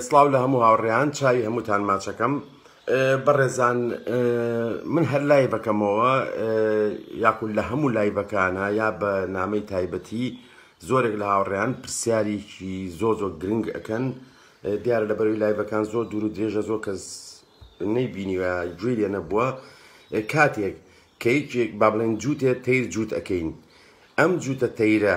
سڵاو لە هەموو هاوڕێیان چاوی هەمووتان ماچەکەم بەڕێزان من هەر لای بەکەمەوە یاکول لە هەموو لای بەکانە یا بە نامەی تایبەتی زۆرێک لە هاوڕێیان پرسیارێکی زۆ زۆ گرنگ ئەەکەن دیار لە بەروی لایڤەکان زۆر دوور و درێژە زۆر کەس نەیبینیوە گوێ لێ نەبووە کاتێک کە یەکێک با بڵێن جووتێ تەیر جووت ئەەکەین ئەم جووتە تەیرە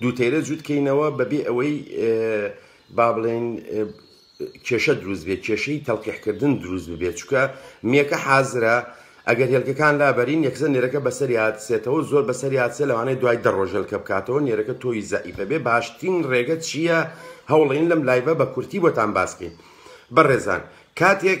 دوو تەیرە جووت کەینەوە بەبێ ئەوەی با بڵێین کێشە دروست بێت کێشەی تەلقیحکردن دروست ببێت چکە میەکە حازرە ئەگەر هێلکەکان لابەرین یەکزە نێرەکە بەسەر یادسێتەوە زۆر بەسەر یادسێ لەوانەیە دوای دەڕۆژەلکە بکاتەوە نێرەکە تۆی زەعیفە بێ باشترین ڕێگە چییە هەوڵین لەم لایبە بە کورتی بۆتان باسکەین بەڕێزان کاتێک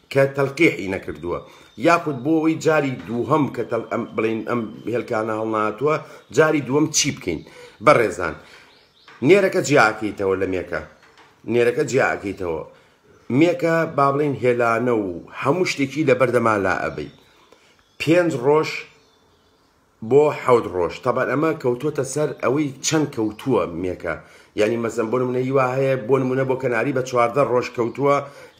کە تەلقیحی نەکردووە یاخود بۆ ئەوەی جاری دووهەم کە تەل ئەم بڵین ئەم هێلکانە هەڵناتووە جاری دووەم چی بکەین بەڕێزان نێرەکە جیاکەیتەوە لە مێکە نێرەکە جیاکەیتەوە مێکە با بڵین هێلانە و هەموو شتێکی لە بەردەما لا ئەبەی پێنج ڕۆژ بۆ حەوت ڕۆژ تابان ئەمە کەوتۆتە سەر ئەوەی چەند کەوتووە مێکە یانی مەسەن بۆ نمونە یوا هەیە بۆ نمونە بۆ کەناری بە چواردە ڕۆژ کەوتووە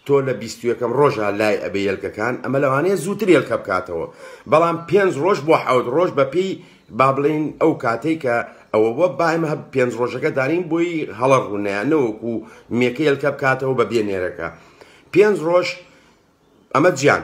تۆ لە بیستویەکەم ڕۆژە لای ئەبێ یلکەکان ئەمە لەوانەیە زووتر یلکە بکاتەوە بەڵام پێنج ڕۆژ بۆ حەوت ڕۆژ بەپی با بڵین ئەو کاتێک کە ئەوە بۆ بایم هە پێنج ڕۆژەکە دارین بۆی هەڵە ڕوونەیە نەوەکو مێکە یلکە بکاتەوە بە بێ نێرەکە پێنج ڕۆژ ئەمە جیان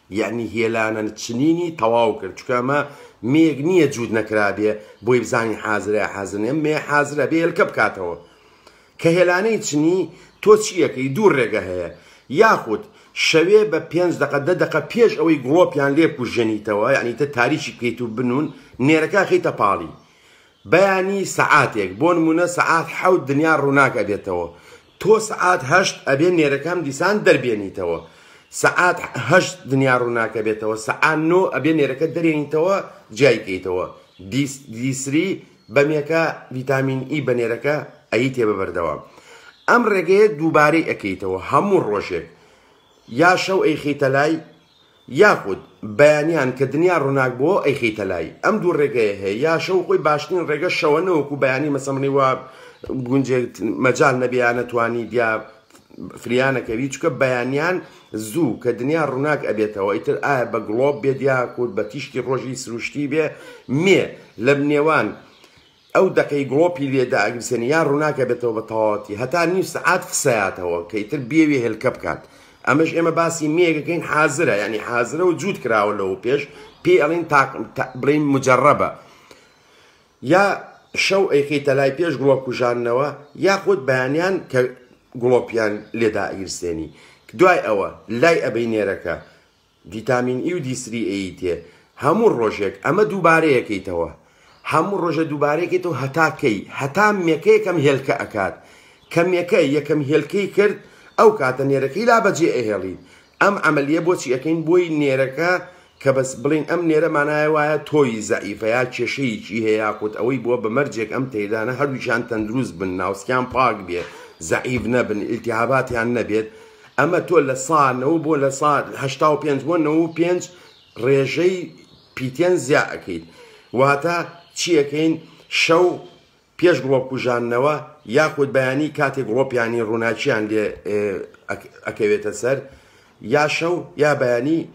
یەعنی هێلانە چنینی تەواو کرد چونکە ئەمە مێیەک نییە جووت نەکرابێ بۆی بزانین حازرە یا حازر نیە مێ حازرە بێ هێلکە بکاتەوە کە هێلانەی چنی تۆ چیەکەی دوو ڕێگە هەیە یاخود شەوێ بە پێنج دقە دە دقە پێش ئەوەی گڵۆپیان لێ کوژێنیتەوە یعنی تە تاریکی بکەیت و بنون نێرەکە خیتە پاڵی بەیانی سەعاتێک بۆ نموونە سەعات حەوت دنیا ڕووناک ئەبێتەوە تۆ سەعات هەشت ئەبێ نێرەکەم دیسان دەربێنیتەوە سەعات هەشت دنیا ڕووناک ئەبێتەوە سەعات نۆ ئەبێ نێرەکە دەرێنیتەوە جیای کەیتەوە دیسری بەمێکە ڤیتامین ئی بە نێرەکە ئەی تێ بەبەردەوام ئەم ڕێگەیە دووبارەی ئەەکەیتەوە هەموو ڕۆژێک یا شەو ئەیخیتە لای یاخود بەیانیان کە دنیا ڕوناک بۆوە ئەیخیتە لای ئەم دوو ڕێگەیە هەیە یا شەو خۆی باشترین ڕێگە شەوە نەوەکو بەیانی مەسەمڕی وا گونجێ مەجال نەبێ یا نەتوانی دیا فریانەکەوی چکە بەیانیان زوو کە دنیا ڕوناک ئەبێتەوە ئیتر ئایا بە گڵۆب بێت یا کورد بە تیشکی ڕۆژی سروشتی بێ مێ لە نێوان ئەو دەقەی گڵۆپی لێ دائەگرسێنی یا ڕووناکە بێتەوە بە تەواوەتی هەتا نیو سەعات خسەیاتەوە کە ئیتر بێوێ هێلکە بکات ئەمەش ئێمە باسی مێیەکەکەین حازرە یانی حازرە و جووت کراوە لەوە پێش پێی ئەڵین تاق بڵین مجربە یا شەو ئەیخیتە لای پێش گڵۆپ کوژانەوە یاخود بەیانیان کە گڵۆپیان لێدا ئیرسێنی دوای ئەوە لای ئەبەی نێرەکە ڤیتامین ئی و دی سری ئێی تێ هەموو ڕۆژێک ئەمە دووبارەیەکەیتەوە هەموو ڕۆژە دووبارەیەکەیتەوە هەتا کەی هەتا مێکە یەکەم هێلکە ئەکات کە مێکە یەکەم هێلکەی کرد ئەو کاتە نێرەکەی لا بەجێ ئەهێڵیت ئەم عەمەلیە بۆچی ئەکەین بۆی نێرەکە کە بەس بڵێین ئەم نێرە مانایە وایە تۆوی زەعیفە یا کێشەیەکی هەیە یاخود ئەوەی بووە بە مەرجێک ئەم تەیرانە هەردووکیان تەندروست بن ناوسکیان پاک بێ زەعیف نەبن ئیلتیهاباتیان نەبێت ئەمە تۆ لە سا نەوە بۆ لە سا هەشتا و پێنج بۆ نەوە و پێنج ڕێژەی پیتێن زیا ئەەکەیت واتە چیەکەین شەو پێش گڵۆپ کوژاننەوە یاخود بەیانی کاتێک گڵۆپیانی ڕووناکییان لێ ئەکەوێتە سەر یا شەو یا بەیانی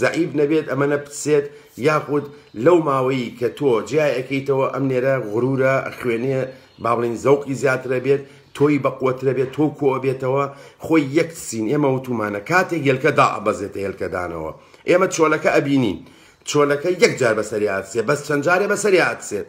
زەعیف نەبێت ئەمەنە بتسێت یاخود لەو ماوەی کە تۆ جیای ئەکەیتەوە ئەم نێرە غرورە ئەخوێنێ بابڵێین زەوقی زیاتر ئەبێت تۆی بەقوەتر ئەبێت تۆو کۆ ئەبێتەوە خۆی یەک تسین ئێمە وتومانە کاتێک هێلکە دائەبەزێتە هێلکە دانەوە ئێمە چۆلەکە ئەبینین چۆلەکە یەک جار بەسەریا ئەتسێ بەس چەند جارێ بەسەریا ئەتسێت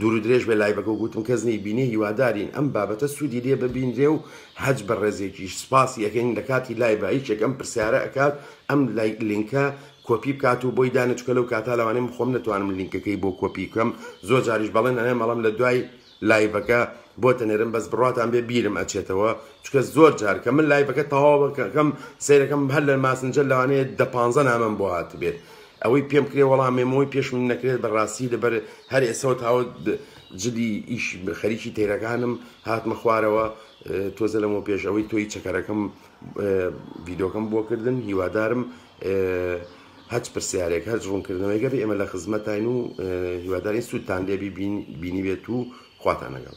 دوورو درێژ بێ لایڤەکە و گوتم کەس نەی بینێ هیوادارین ئەم بابەتە سوودی لێ ببینرێ و هەچ بەڕێزێکیش سپاسی ئەکەین لەکاتی لایڤا یەکێک ئەم پرسیارە ئەکات ئەم لینکە کۆپی بکات و بۆی دانێ چونکە لەو کاتە لەوانەیە من خۆم نەتوانم لینکەکەی بۆ کۆپی بکەم زۆر جاریش بەڵێن ئەنێم ئەڵێم لە دوای لایڤەکە بۆت ئەنێرم بەس بڕواتان بێ بیرم ئەچێتەوە چونکە زۆر جار کە من لایڤەکە تەواو ئەکەم سەیرەکەم هەر لە ماسنجەر لەوانەیە دە پانزە نامەم بۆ هاتبێت ئەوەی پێم کرێ وەڵا مێمۆی پێشمم نەکرێت بە ڕاستی لەبەر هەر ئێسەوە تاوە جلی ئیش خەریکی تەیرەکانم هاتمە خوارەوە تۆزە لەمە پێش ئەوەی تۆی چەکەرەکەم ڤیدۆکەم بۆ کردن هیوادارم هەچ پرسیارێک هەر ڕوونکردنەوەی گەر ئێمە لە خزمەتین و هیوادارین سوودتان لێبی بینی بێت و خواتان لەگەڵ